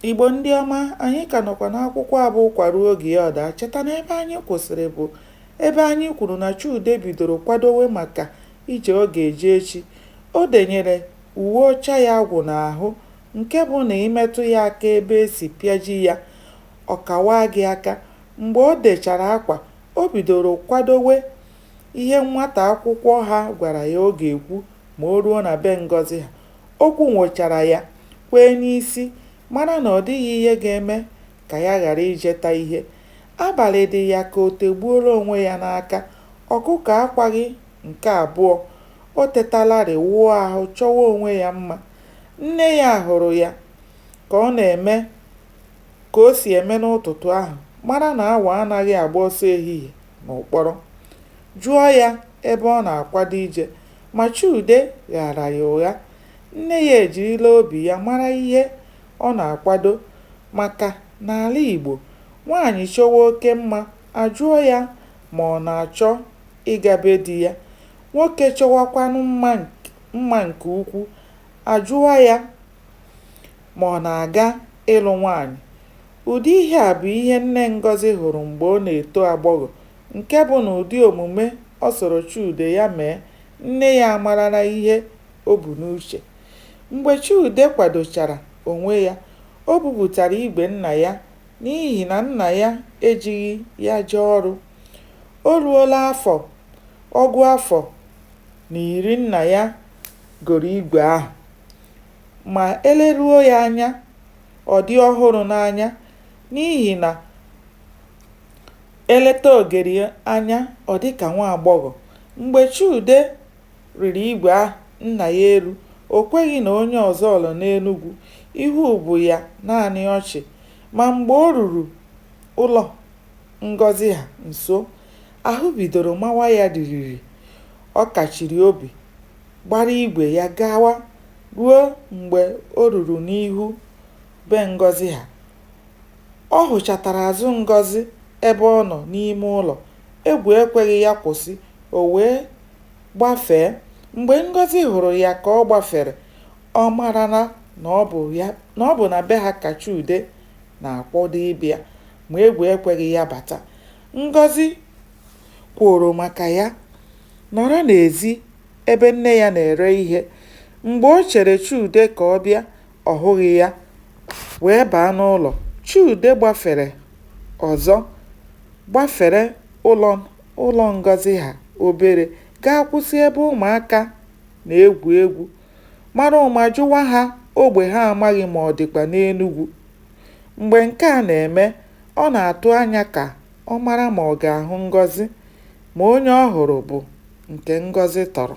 Igbo ndị ọma, anyị ka nọkwa n'akwụkwọ a bụ Ụkwa ruo oge ya ọ daa. Cheta na ebe anyị kwụsịrị bụ ebe anyị kwuru na Chude bidoro kwadowe maka ije ọ ga-eje echi. O denyere uwe ọcha ya agwụ n'ahụ nke bụ na ị metụ ya aka ebe e si pịaji ya, ọ kawaa gị aka. Mgbe o dechara akwa, o bidoro kwadowe ihe nwata akwụkwọ ha gwara ya ọ ga-ekwu ma o ruo na be Ngọzi ha. O kwunwochara ya, kwee n'isi, mara na ọ dịghị ihe ga-eme ka ya ghara ijeta ihe. Abalị dị ya ka o tegbuola onwe ya n'aka. Ọkụkọ akwaghị nke abụọ. O tetalarị, wụọ ahụ, chọwa onwe ya mma. Nne ya hụrụ ya ka ọ na-eme ka o si eme n'ụtụtụ ahụ, mara na awọ anaghị agba ọsọ ehihie n'ụkpọrọ, jụọ ya ebe ọ na-akwado ije. Ma Chude ghaara ya ụgha. Nne ya ejirila obi ya mara ihe ọ na-akwado maka n'ala Igbo, nwaanyị chọwa oke mma, a jụọ ya ma ọ na-achọ ịga be di ya. Nwoke chọwakwanụ mma nke ukwu, a jụọ ya ma ọ na-aga ịlụ nwaanyị. Ụdị ihe a bụ ihe nne Ngọzi hụrụ mgbe ọ na-eto agbọghọ Nke bụ na ụdị omume ọ sọrọ Chude ya mee, nne ya amarala ihe o bu n'uche. Mgbe Chude kwadochara onwe ya, o bupụtara igwe nna ya n'ihi na nna ya ejighị ya jee ọrụ. O ruola afọ ọgụ afọ na iri nna ya goro igwe ahụ. Ma e leruo ya anya, ọ dị ọhụrụ n'anya n'ihi na E leta ogeri anya, ọ dị ka nwa agbọghọ. Mgbe Chude rịrị igwe ahụ nna ya elu, o kweghị na onye ọzọ nọ n'Enugwu. Ihu bụ ya naanị ọchị. Ma mgbe o ruru ụlọ Ngọzi ha nso, ahụ bidoro mawa ya ririri. Ọ kachiri obi, gbara igwe ya gawa ruo mgbe o ruru n'ihu be Ngọzi ha. Ọ hụchatara azụ Ngọzi ebe ọ nọ n'ime ụlọ. Egwu ekweghị ya kwụsị, o wee gbafee. Mgbe Ngọzi hụrụ ya ka ọ gbafere, ọ marala na ọ bụ na be ha ka Chude na-akwado ịbịa, ma egwu ekweghị ya bata. Ngọzi kworo maka ya nọrọ n'ezi ebe nne ya na-ere ihe. Mgbe o chere Chude ka ọ bịa, ọ hụghị ya wee baa n'ụlọ. Chude gbafere ọzọ gbafere ụlọ ụlọ Ngọzi ha obere gaa kwụsị ebe ụmụaka na-egwu egwu mara ụma jụwa ha ogbe ha amaghị ma ọ dịkwa n'Enugwu. Mgbe nke a na-eme, ọ na-atụ anya ka ọ mara ma ọ ga-ahụ Ngọzi ma onye ọ hụrụ bụ nke Ngọzi tọrọ.